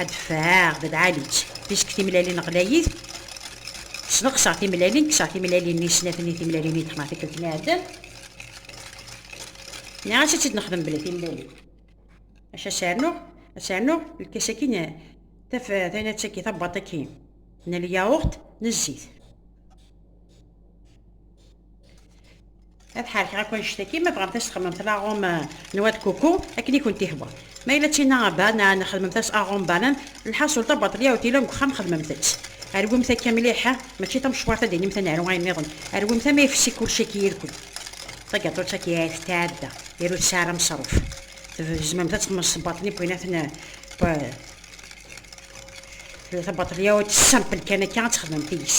Ad d-fɛeɣ d lɛali-tt. Fisk timlalin ɣlayit. Sneqseɣ timlalin, kkseɣ timlalin-nni i snat-nni timlalin i d-xedmeɣ tikkelt n iɛeddan. Nniɣ-as ad tt-id-nexdem bla timlalin. Maca ad s-rnuɣ, ad s-rnuɣ lkas-agi n taf, taynatt-agi, tabbaṭ-agi n lyaɣurt, n zzit. ad ḥerkeɣ akk annect-agi ma bɣamt as txedmemt laɣum euh, n wad kuku akken i kent-ihwa ma yella tina banan xedmemt-as aɣum banan lḥaṣul tabaṭelya u tila deg uxxam xedmemt-tt rwimt akka mliḥ mačči tamecwart ad inimt ad naru ayen niḍen rwimt ama ifsi kulci akka yirkul tagaṭutt akka ay tetɛadda yir ur tesɛi ara meṣruf tzemremt ad txedmemt s baṭel i win aten tabaṭelya u tessampel kan akka ad txedmemt deg-s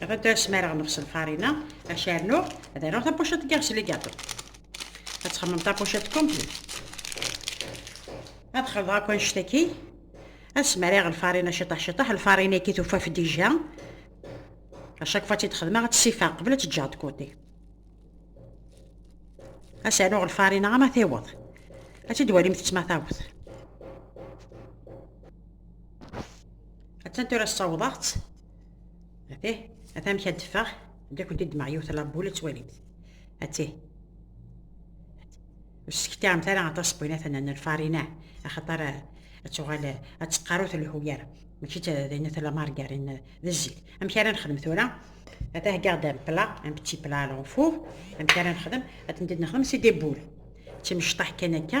Dɣa tura smareɣ nexs lfarina, acu rnuɣ, ad rnuɣ tapucet n yiɣes ligaṭu. Ad txemmem tapucet kumpli. Ad xelḍeɣ akk anect-agi, ad smareɣ lfarina ciṭaḥ ciṭaḥ, lfarina-agi tufaf dija. Acu kfa tt-id-xedmeɣ, ad tt-sifeɣ qbel ad tt-ǧǧeɣ dkuti. Ad s-rnuɣ lfarina ama tiweḍ. Ad tt-id-walimt ttma taweḍ. attan tura ssawḍeɣ-tt atih ata amek ad d-ffeɣ ad akent id yiwet labul ad twalimt atih ur ssektiɛemt ara aṭas bɣinatan n lfarina axaṭer ad tuɣal ad teqqaru telhu yar mačči d din tella margarin d zzit amek ara nexdem tura ad heggaɣ-d am pla am petit pla alors four amek ara nexdem ad tent-id nexdem si des boules d timecṭaḥ kan akka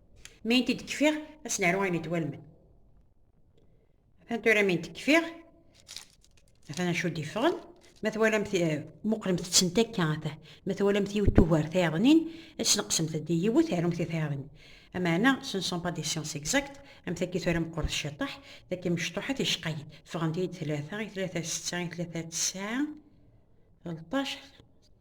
Mi n t-id-kfiɣ, ad s-naru ayen i d-walmen. Atan tura mi n t-kfiɣ, atan acu d-iffɣen, ma twalamt eh, muqlemt-tent akka ata, ma twalamt yiwet tugar tayeḍnin, ad sneqsemt-d i yiwet, arumt i tayeḍnin. Amaɛna, ce ne sont pas des sciences exactes, am takki tura meqqret ciṭaḥ, takki mecṭuḥet yecqayen. Ffɣent-iyi-d tlata, i tlata setta, i tlata tesɛa, telṭac,